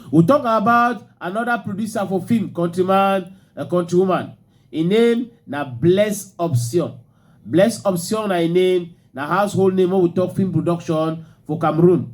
We talk about another producer for film, countryman, a countrywoman. Her name na Bless Option. Bless Option na her name, na household name when we talk film production for Cameroon.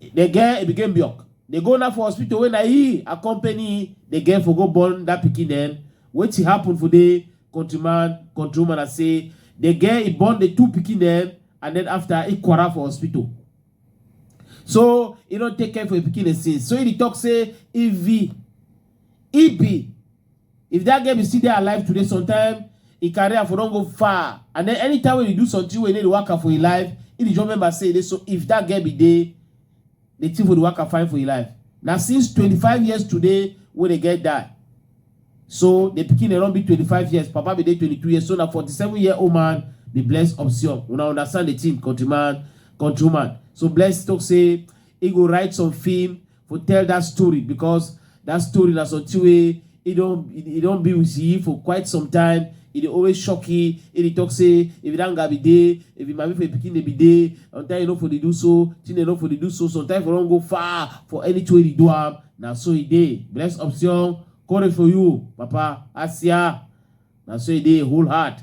The girl Ebikem Biok dey go now for hospital wey na he accompany the girl for go born that pikin dem. Wetin happen for the countryman, countrywoman na say the girl e born the two pikin dem and then after e quarrel for hospital. So e don take care for the pikin dem since. So e dey talk say if e e be If that girl be still dey alive today, sometime e career for don go far and then anytime wey e do something wey e no dey waka for e life, e dey just remember say e dey so if that girl be dey the thing for the waka fine for e life. Na since 25 years today wey the girl die. So the pikin dey don be 25 years, papa be dey 22 years, so na 47 year old man be Bless Option. Una understand the thing countryman, countrywoman. So Bless talk say e go write some film for tell that story because that story na something wey e don e don be with you for quite some time e dey always shock you e dey talk say if you don gabi dey if you mami for your pikin dey be dey sometimes you no for dey do so thing dey no for dey do so sometimes for don go far for anything wey you do am na so e dey bless option courage for you papa asia na so e dey whole heart